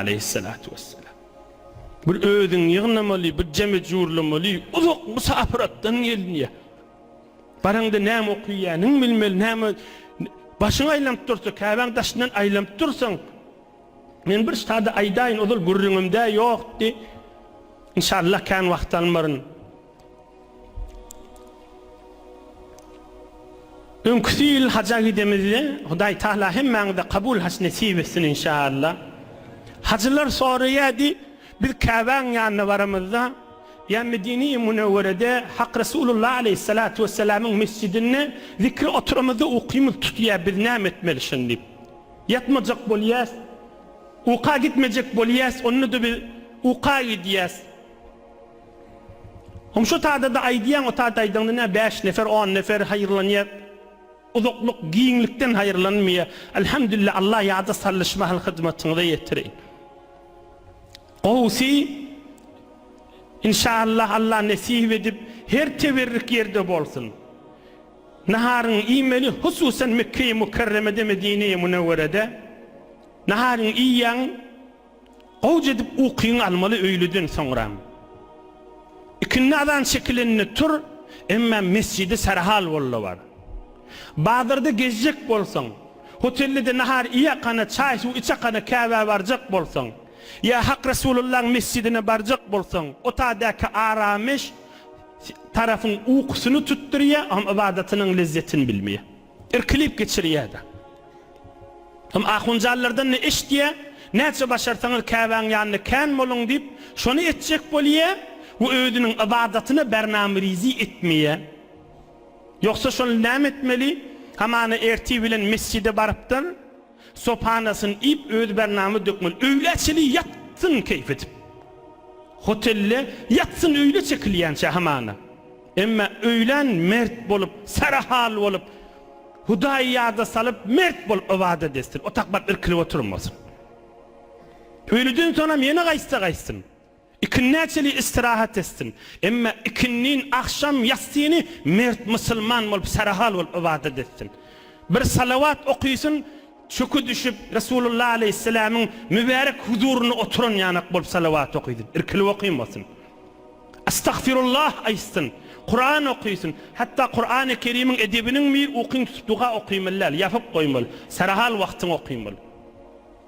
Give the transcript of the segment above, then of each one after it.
Aleýhissalatu wesselam. Bir özüň ýygnamaly, bir jemi jurlamaly, uzak musapyr atdan gelinýär. Baraňda näme okuyýanyňy bilmeli, näme başyň aýlanyp dursa, Käbäň daşyndan aýlanyp dursaň, men bir sada aýdaýyn, ozal gürrüňimde ýokdy. Inşallah kän wagt almaryn. Öňküsi ýyl haja gidemizde Hudaý Tahala hemmäňize kabul haç nesip etsin inşaAllah. Hajylar soraýardy, biz Käbäň ýanyna baramyzda ýa Medine-i Münewwerede Hak Resulullah Aleýhissalatu Wesselamyň mesjidinde zikre oturamyzda ukymyz tutýar biz näme etmeli şony diýip. Ýatmajak bolýas, uka gitmejek bolýas onda-da biz uka gidýäs. Hum şu tadada aýdýaň o tada aýdaňda nä bäş nefer on nefer haýyrlanýa uzaklyk giňlikden haýyrlanmaýa Alhamdulillah Allah ýada sallyş mahal hyzmatyňyza ýetireýin Gowsy Inşallah Allah nesip edip her teberrik ýerde bolsun Naharyňy iýmeli hususan Mekkeýi Mukerremede Medineýi Munewwerede Naharyňy iýýäň Gowja edip ukyňy almaly öýlüden soňram. Ikindi azan çekilende tur, emma mesjidi sarhal bolda bar. Bazarda gezjek bolsaň, hotellede nahar iýakana, çaý-suw içakana Käbä barjak bolsaň, ýa Hak Resulullaň mesjidine barjak bolsaň, otadaky arameş tarapyň ukusyny tutdurýar, ybadatynyň lezzetini bilmeýär. Irkilip geçirýär-de. Hem ahunjallardan ne eşitýär, Näçe başarsaňyz Käbäň ýanynda kän boluň diýip, şony etjek bolýar we özüniň ybadatyna Bernamyrizi etmeýär. Ýogsa şonda näme etmeli? Hamana ertir bilen mesjide barypdyr. Sopanasyny iýip, özi bernama dökmeli. Öýlä çenli ýatsyn keýp edip. Hotelde ýatsyn öýle çekilýänçä hamana. Emma öýlän mert bolup, sarahal bolup, Hudaýy ýada salyp, mert bolup ybadat etsin. Otaklap irkilip oturmasyn. Öýlüden soňam ýene gaýtsa gaýtsyn. Ikindiä çenli istirahat etsin. Emma ikindin agşam ýatsyny mert musulman bolup, sarahal bolup ybadat etsin. Bir salawat okysyn, çöki düşüp, Resulullah aleýhissalamyň mübärek huzurynda oturan ýanak bolup salawat okysyn, irkilip okymosyn. Astagfirullah aýtsyn, Kuran okysyn. Hatda Kurany Kerimiň edebiniňmi ukyň tutup duga okymaly däl, ýapyp goýmaly, sarahal wagtyň okymaly.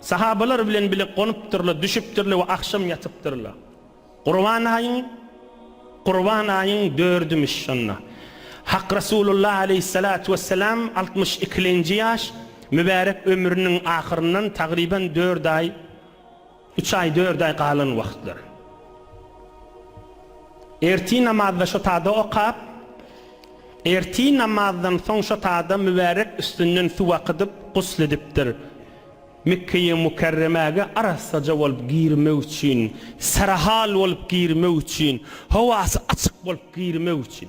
Sahabalar bilen bile gonupdyrlar, düşüpdirler we agşam ýatypdyrlar. Gurban aýyň Gurban aýyň dördümiş şonda. Hak Resulullah aleýhissalatu wessalam altmyş ikilenji ýaş mübärek ömrüniň ahyryndan tagryban dört aý Üç aý, dört aý galan wagtlar. Ertir namazda şo tada okap, ertir namazdan soň şo tada mübärek üstünden suw akydyp, gusl edipdir. Mekgeýi Mükerremäge arassaja bolup girmek üçin, serahal bolup girmek üçin, howasy açyk bolup girmek üçin.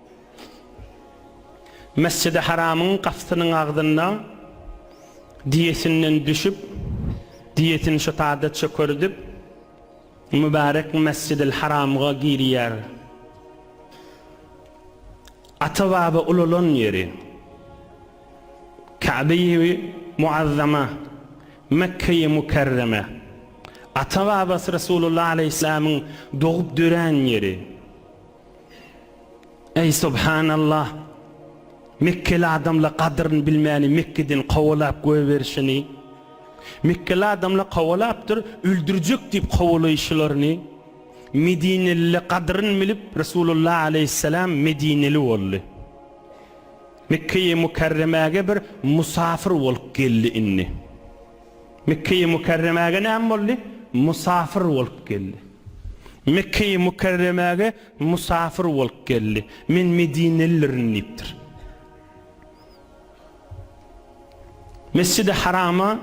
Mesjidi Haramyň gapysynyň agzynda diýesinden düşüp, diýesini şu taýda çökerdip, mübärek Mesjidil Haramga girýär. Ata-baba ulalan ýeri, Käbeýi Muazzama, Mekgeýi Mükerreme, ata-babasy Resulullah alaýhyssalamyň dogup dörän ýeri. Eý subhanallah! Mekkeli adamla gadyryn bilmäni Mekkeden kowalap goýberişini, Mekkeli adamla kowalapdyr öldürjek diýip kowalaýşylaryny, Medinelile gadyryn bilip Resulullah aleýhisselam Medineli boldy. Mekkeýi Mukerremäge bir musafir bolup geldi indi. Mekge-i Mükerremäge näme boldy? Musafir bolup geldi. Mekge-i Mükerremäge musafir bolup geldi. Men medinelidirin diýipdir. Mesjid-i Harama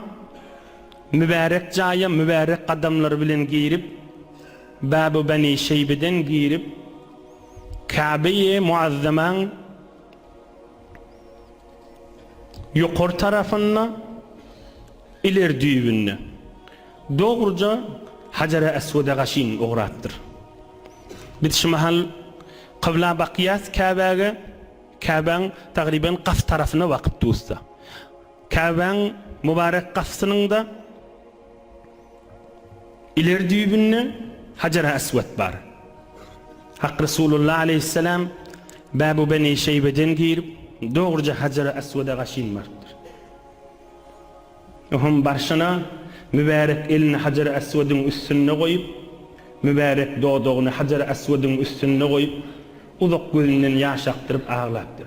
mübärek jaýa mübärek gadamlary bilen girip, Bäb-i Beni Şeýbeden girip, Käbe-i Muazzamaň Ýokary tarapynda, ileri düýbünde, dogruja Hajara-Eswede gaşyn ugrapdyr. Biz şu mahal kybla bakýas Käbäge, Käbäň tagryban gaf tarapyna bakyp dusda. Käbäň mubarek gafsynyň-da. Ileri düýbünde Hajar-Aswat bar. Hak Resulullah aleýhissalam Babu Beni Şeýbeden girip, dogruja Hajar-Aswada gaşyn barypdyr. Oňam barşyna mübärek elini Hajar-Aswadyň üstünde goýup, mübärek dodagyny Hajar-Aswadyň üstünde goýup, uzak gözünden ýaş akdyryp aglapdyr.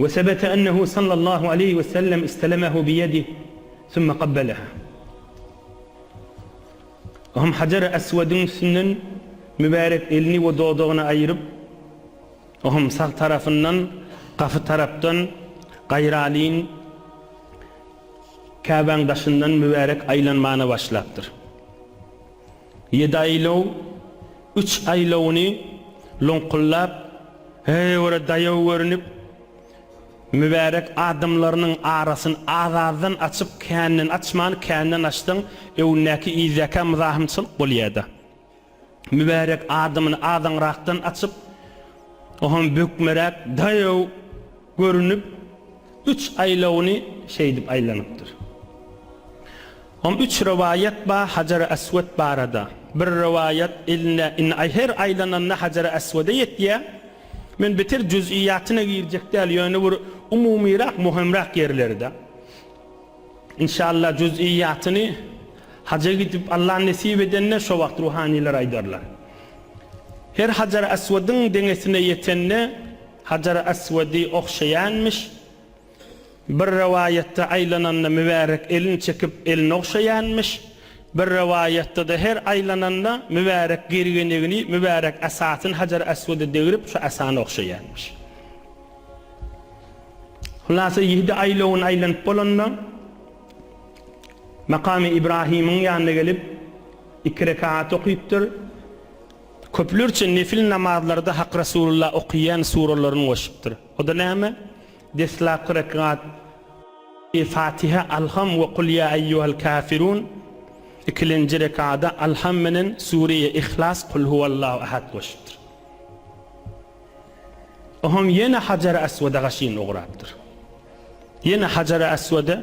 Ve sebete ennehu sallallahu aleýhi ve sellem istelemehu bi ýedih sümme gabbeleha. Ohm hajeri eswediň üstünden mübärek elini ve dodagyny aýyryp, ohm sag tarafyndan gapy tarapdan gaýralyn Käbäň daşyndan mübärek aýlanmana başlapdyr. Ýedi aýlaw, üç aýlawuny loňkullap, höwre daýaw görnüp, mübärek adamlarynyň arasyny az-azdan açyp, känden açman, känden açsaň, öwündäki yzýaka myzahymçylyk bolýar-da. Mübärek adamyny azaňrakdan açyp, o hem bökmeräk daýaw görnüp, Üç aýlawyny şeýdip aýlanypdyr. Hom üç rowaýat bar Hajar-y Aswat barada. Bir rowaýat elinde indi aý her aýlananda Hajar-y Aswada ýetýä. Men beter juz'iýatyna girjek däl ýöne bir umumyrak muhimrak ýerleride. Inşallah juz'iýatyny Haja gidip Allah nesip edende şo wagt ruhanylar aýdarlar. Her Hajar-y Aswadyň deňesine ýetende, Hajar Aswady ogşaýanmyş. Bir rowaýatda aýlananda Mübärek elini çekip elini ogşaýanmyş. Bir rowaýatda-da her aýlananda Mübärek gergenegini, Mübärek asasyny Hajar Aswada degrip şu asany ogşaýanmyş. Hulasa ýedi aýlawyny aýlanyp bolanda Makamy Ibrahymyň ýanyna gelip iki rekat okypdyr. Köplerçe nefil namazlarda Hak Resulullah okaýan suralaryny goşupdyr. O-da näme? Deslapky rekat, Fatiha, Alham we Kul ýa eýýuhal kafirun, ikilenji rekada Alham menen Sureýe Ihlas, Kul huwallahu ahad goşupdyr. O hem ýene Hajary Aswada gaşyn ugrapdyr. Ýene Hajary Aswada,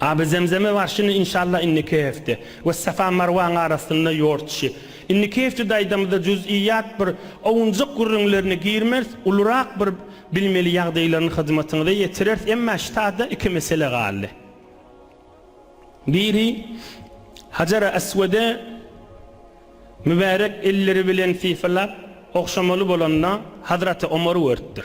Aby Zemzeme barşyny inşallah indiki hefte we Safa Marwaň arasynda ýortuşy. Indiki hefte daýdamyzda juz'iýat bir owunjak gürrüňlerini girmers, ulurak bir bilmeli ýagdaýlaryny hyzmatyňyza ýetirers emma ştada iki mesele galdy. Biri Hajara Aswede mübärek elleri bilen sypalap ogşamaly bolanda Hazraty Omar görüpdir.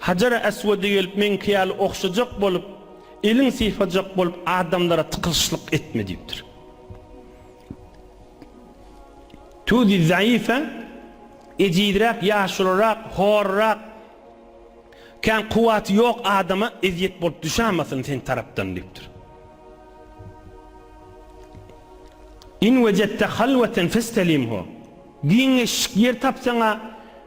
Hajara Eswede gelip meňki ýaly ogşajak bolup, elin sypajak bolup adamlara tykylyşlyk etme diýipdir. Tudi Zaýyfe ejizräk, ýaşulyrak, horrak, kän kuwwaty ýok adama ezýet bolup düşämasyn seň tarapdan diýipdir. In wejette halweten festelimhu. Giňeşik ýer tapsaň-a,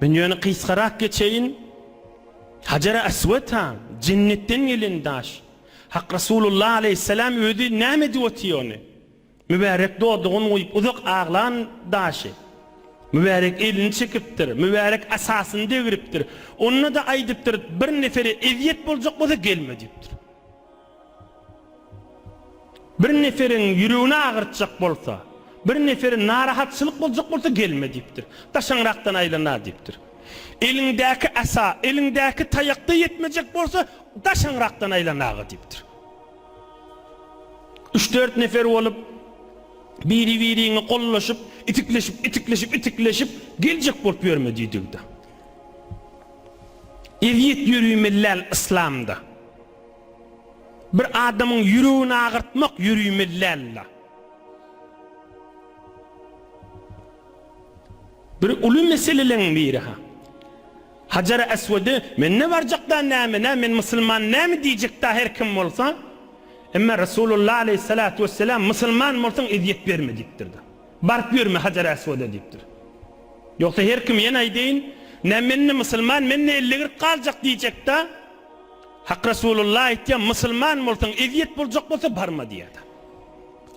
Men ýöne gysgarak geçeýin, Hajary Aswata, Jennetden gelen daş. Hak Resulullah aleýhissalam özi näme edip otyr ony? Mübärek dodagyny guýup uzak aglan daşy. Mübärek elini çekipdir, mübärek asasyny degripdir. Onda-da aýdypdyr, Bir nefere ezýet boljak bolsa gelme diýipdir. Bir neferiň ýüregini agyrtjak bolsa, bir nefere narahatçylyk boljak bolsa gelme diýipdir. Daşaňrakdan aýlana diýipdir. Eliňdäki asa, eliňdäki taýak-da ýetmejek bolsa, daşaňrakdan aýlana-a diýipdir. Üç-dört nefer bolup, biri-biriňi gollaşyp, itikleşip, itikleşip, itikleşip, geljek bolup ýörme diýdigi-de. Ezýet ýörümelläl yslamda. Bir adamyň ýüregini agyrtmak ýüriýmeli däldi. Bir uly meseleleň biri ha. Hajar Eswedi men ne barjak da näme nä men musulman näme diýjek da her kim bolsa. Emma Resulullah aleýhissalat wessalam musulman bolsaň ezýet berme diýipdir da. Baryp ýörme Hajar Eswede diýipdir. Ýogsa her kim ýene aýdaýyn nä men ne musulman men ne elli gyrk galjak diýjek da. Hak Resulullah aýtýar, Musulman bolsaň, ezýet boljak bolsa, barma diýýär.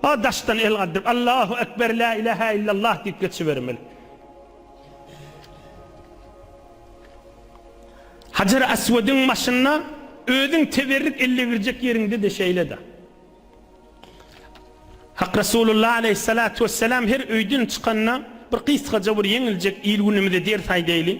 A daşdan el galdyryp, Allahu ekber, la ilaha illallah diýip geçibermeli. Hajar Aswadyň başynda özüň teberrük elle girjek ýeriňde-de şeýle-de. Hak Resulullah aleýhissalatu wessalam her öýden çykanda bir gysgaja bir ýeňiljek il günümizde ders aýdaýly.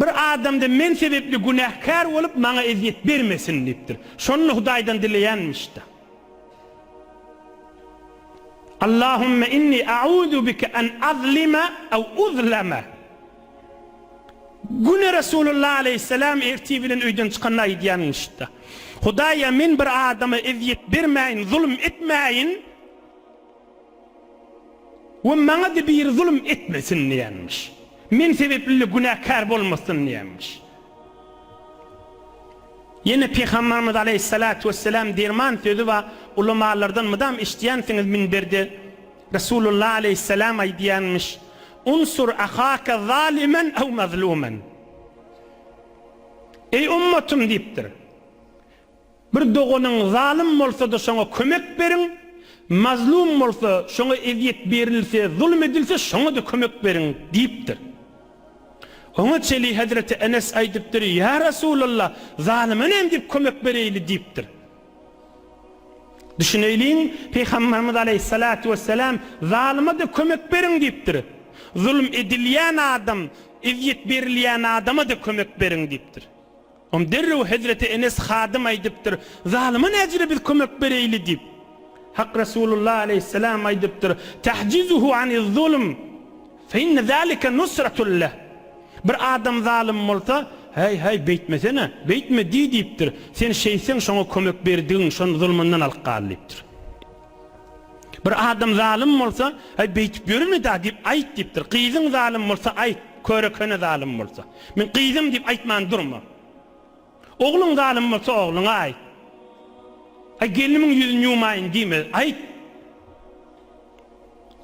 Bir adamda men sebepli günäkär bolup, maňa ezýet bermesin diýipdir. Şony Hudaýdan dileýänmiş-de. Allahümme inni a'uzu bike en azlime ew uzleme. Güne Resulullah aleýhisselam ertir bilen öýden çykanda aýdýanmiş-de. Hudaýa men bir adama ezýet bermäýin, zulum etmäýin. We maňa-da biri zulum etmesin diýenmiş. Men sebepli-de günäkär bolmasyn diýenmiş. Ýene Pygamberimiz aleýhissalatu wesselam derman sözi bar, ulamalardan mydam eşidýänsiňiz minberde Resulullah aleýhissalam aýdýanmyş, Unsur ahaka zalimen ew mazlumen. Eý ummatym diýipdir. Bir doganyň zalym bolsa-da şoňa kömek beriň, mazlum bolsa, şoňa ezýet berilse, zulum edilse, şoňa-da kömek beriň diýipdir. Oňa çeli Hezreti Enes aýdypdyr, Ýa Resulalla, zalyma nämdip kömek bereýli diýipdir. Düşüneýliň, Pygamberimiz aleýhissalatu wessalam, Zalyma-da kömek beriň diýipdir. Zulum edilýän adam, ezýet berilýän adama-da kömek beriň diýipdir. Onda derrew hezreti Enes hadym aýdypdyr, Zalyma näcire biz kömek bereýli? diýip. Hak Resulullah aleýhisselam aýdypdyr, Tahjizuhu aniz-zulm, fe inne zalike nusratun leh. Bir adam zalym bolsa, Häý-häý, beýtmesene, beýtme diý diýipdir. Sen şeýtseň, şoňa kömek berdigiň, şony zulmundan alyp gal diýipdir. Bir adam zalym bolsa, Aý, beýtip ýöreme-dä diýip aýt diýipdir. Gyzyň zalym bolsa aýt, köre-köne zalym bolsa. Men gyzym diýip aýtman durma. Ogluň zalym bolsa ogluňa aýt. Aý, gelnimiň ýüzüni ýumaýyn diýme, aýt.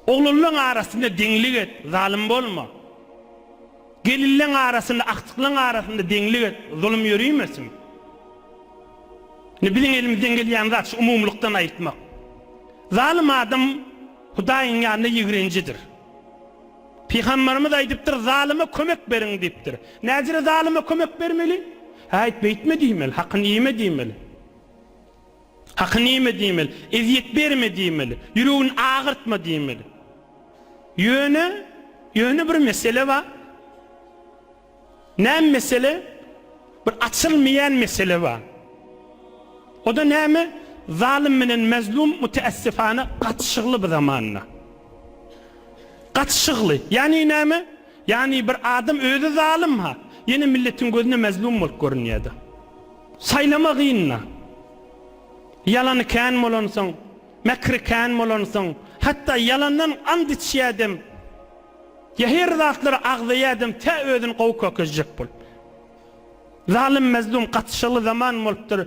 Oglanlaň arasynda deňlik et, zalym bolma. Gelinleň arasynda, agtyklaň arasynda deňlik et, zulum ýörimesin. Indi biziň elimizden gelýän zat şu umumylykdan aýtmak. Zalym adam Hudaýyň ýanynda ýigrenjidir. Pygamberimiz aýdypdyr, Zalyma kömek beriň diýipdir. Näcire zalyma kömek bermeli? Häýt, beýtme diýmeli, hakyny iýme diýmeli. Hakyny iýme diýmeli, ezýet berme diýmeli, ýüregini agyrtma diýmeli. Ýöne, ýöne bir mesele bar. Näme mesele? Bir açylmaýan mesele bar. O-da näme? Zalym bilen mazlum müteessifana gatyşygly bu zamanda. Gatyşygly. Ýagny näme? Ýagny bir adam özi zalym-ha, ýene milletiň gözünde mazlum bolup görünýär-de. Saýlama gyn-da. Ýalany kän bolansoň, mäkri kän bolansoň, hatda ýalandan and içýädem. Zäherli zatlary agzaýadem tä özüni gowy kökezjek bol. Zalym mezlum gatyşyly zaman bolupdyr.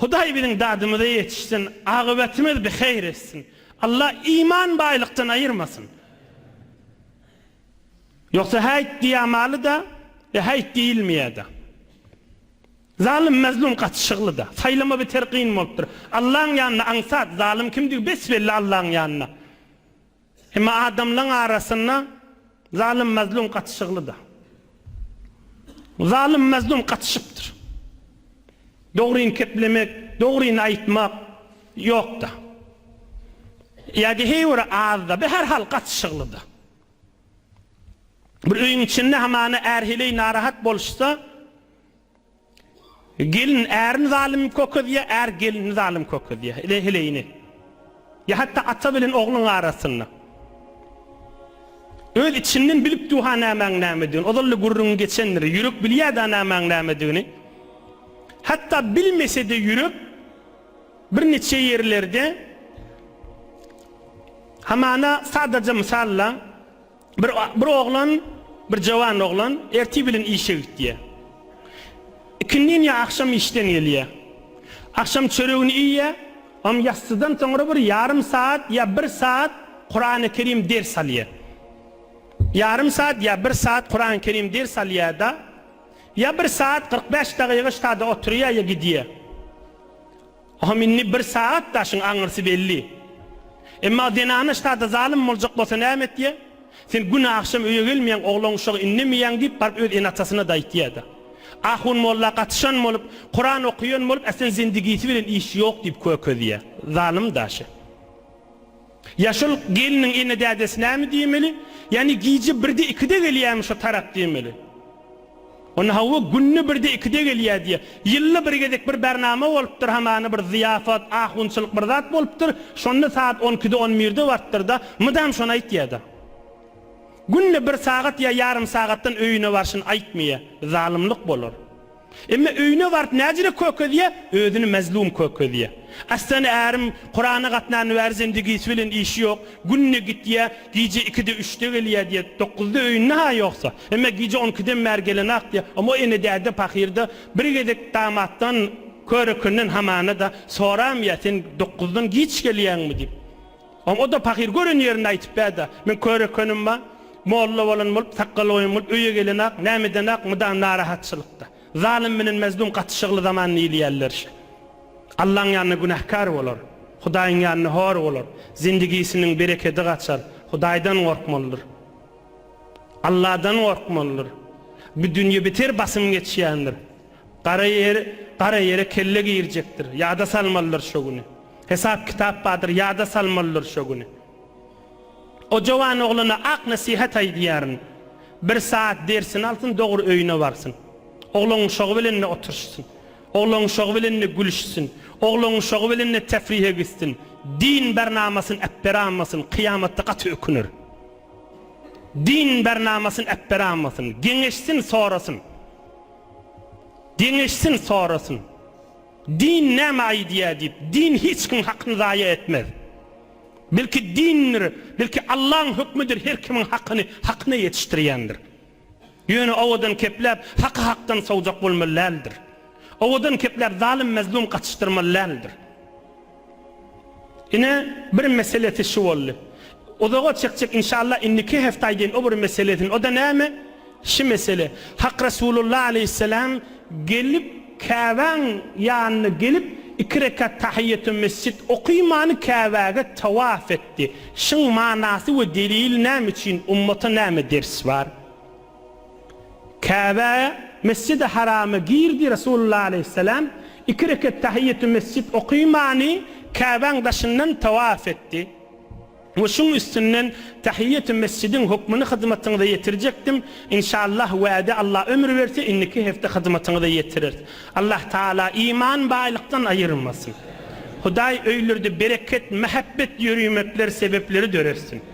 Hudaý biziň dadymyza ýetişsin, agybetymiz biheýr etsin. Allah iman baýlykdan aýyrmasyn. Ýogsa häýt diýämalyda, e häýt diýilmeýäda. Zalym mezlum gatyşylyda. Saýlama beter gyn bolupdyr. Allaň ýanynda aňsat, zalym kimdigi bes belli Allaň ýanynda. Emma adamlaň arasynda zalym-mazlum gatyşyglyda. Zalym-mazlum gatyşypdyr. Dogryny keplemek, dogryny aýtmak ýokda. Ýa-da heý biri azda, bir her hal gatyşyglyda. Bir öýüň içinde hamana är heleý narahat boluşsa, Gelin ärini zalym kökezýär, är gelini zalym kökezýär. Ile heleýini. Ýa hatda ata bilen ogluň arasynda. Öz içinden bilipdi-ha nämäň nämedigini. Ozal-da gürrüňi geçendir. Ýürek bilýär-dä nämäň nämedigini. Hatda bilmese-de ýürek birniçe ýerlerde hamana sadaja mysalla Bir bir oglan, bir jawan oglan ertir bilen işe gitýär. Ikindin ýa agşam işden gelýär. Agşam çöregini iýýär, am ýassydan soňra bir ýarym saat ýa bir saat Kurany Kerim ders alýar. Ýarym saat ýa bir saat Kurany Kerim ders alýar-da, ýa bir saat kyrk bäş dagyga ştada oturýar ýa gidýär. Ohm indi bir sagat daşyň aňyrsy belli. Emma zenana ştada zalym boljak bolsa näme etýä? Sen gün agşam öýe gelmeýäň, oglan uşagy indemeýäň diýip baryp öz ene-atasyna-da aýtýa-da. Ahun molla gatyşan bolup, Kuran okaýan bolup, äsen zendigisi bilen işi ýok diýip kökezýä. Zalym daşy. Ýaşulyk gelniň ene-dädesi näme diýmeli? Ýagny gije birde-ikide gelýärmi şo tarap diýmeli. Onda hawa, günde birde-ikide gelýär diýýär. Ýylda bir gezek bir bernama bolupdyr, hamana bir zyýafat, ahunçylyk bir zat bolupdyr, şonda sagat on ikide, on birde barypdyr-da, mydam şony aýtýar-da. Günde bir sagat ýa ýarym sagatdan öýüne barşyny aýtmaýar. Zalymlyk bolar. Emma öýüne baryp näzire kökezýä, özüni mazlum kökezýä. Aslan ärim Kurana gatnany bäri zendigisi bilen işi ýok, günde gitýä, gije ikide-üçde gelýä diýä, dokuzda öýünde ha ýoksa. Emma gije on ikiden bäri gelenok diýä. Omo ene-däde pakyrda bir gezek damatdan, körekenden hamana-da soramýa, sen dokuzdan giç gelýäňmi diýip. Oňa-da pahyr gören ýerini aýtyp bäda. Men kör ekenim-a. Molla bolan bolup, sakgal goýan bolup öýe gelen-ak, näme eden-ak, mydam narahatçylykda. Zalym bilen Mezdum gaty şygly zaman diýilýärler şe. Allaň ýanynda günäkär bolar. Hudaýyň ýanynda hor bolar. Zindigisiniň berekedi gaçar. Hudaýdan gorkmalydyr. Alladan gorkmalydyr. Bu dünýe beter basym geçýändir. Gara ýer gara ýere kelle girjekdir, ýada salmalydyr şo güni. Hesap-kitap bardyr, ýada salmalydyr şo güni. O jowan oglana ak nesihat aýdýaryn, Bir sagat dersini alsyn, dogry öýüne barsyn. Oglanuşagy bilen-de oturyşsyn. Oglanuşagy bilen-de gülüşsin. Oglanuşagy bilen-de tefrihe gitsin. Din bernamasyny äpberanmasyn, kyýamatda gaty öküner. Din bernamasyny äpberanmasyn. Geňeşsin, sorasyn. Deňeşsin sorasyn. Din näme aýdýa diýip, din hiç kim hakyny zaýa etmez. Belki dindir, belki Allaň hökmüdir her kimiň hakyny hakyna ýetişdirýändir. Ýöne owadan kepläp haky hakdan sowjak bolmaly däldir. Owadan kepläp zalym-mezlum gatyşdyrmaly däldir. Ine bir meselesi şu boldy. Uzaga çekjek inşallah indiki heftaý deýin o bir meselesin o da näme şi mesele Hak Resulullah aleýhisselam gelip Käbäň ýanyna gelip iki rekat tahiýýetü mesjit okymany Käbäge tawaf etdi şyň manasy we delili näme üçin ummata näme ders bar. Käbä, Mesjidi Harama girdi, Resulullah aleýhissalam iki reket tahyýetümesjit okymany Käbäň daşyndan tawaf etdi. We şuň üstünden tahyýetümesjidiň hukmyny hyzmatyňyza ýetirjekdim. Inşallah wäde Allah ömür berse indiki hepde hyzmatyňyza ýetireris. Allah Taala iman baýlykdan aýyrmasyn. Hudaý öýlerde bereket, mähebbet ýörimetler sebepleri döretsin.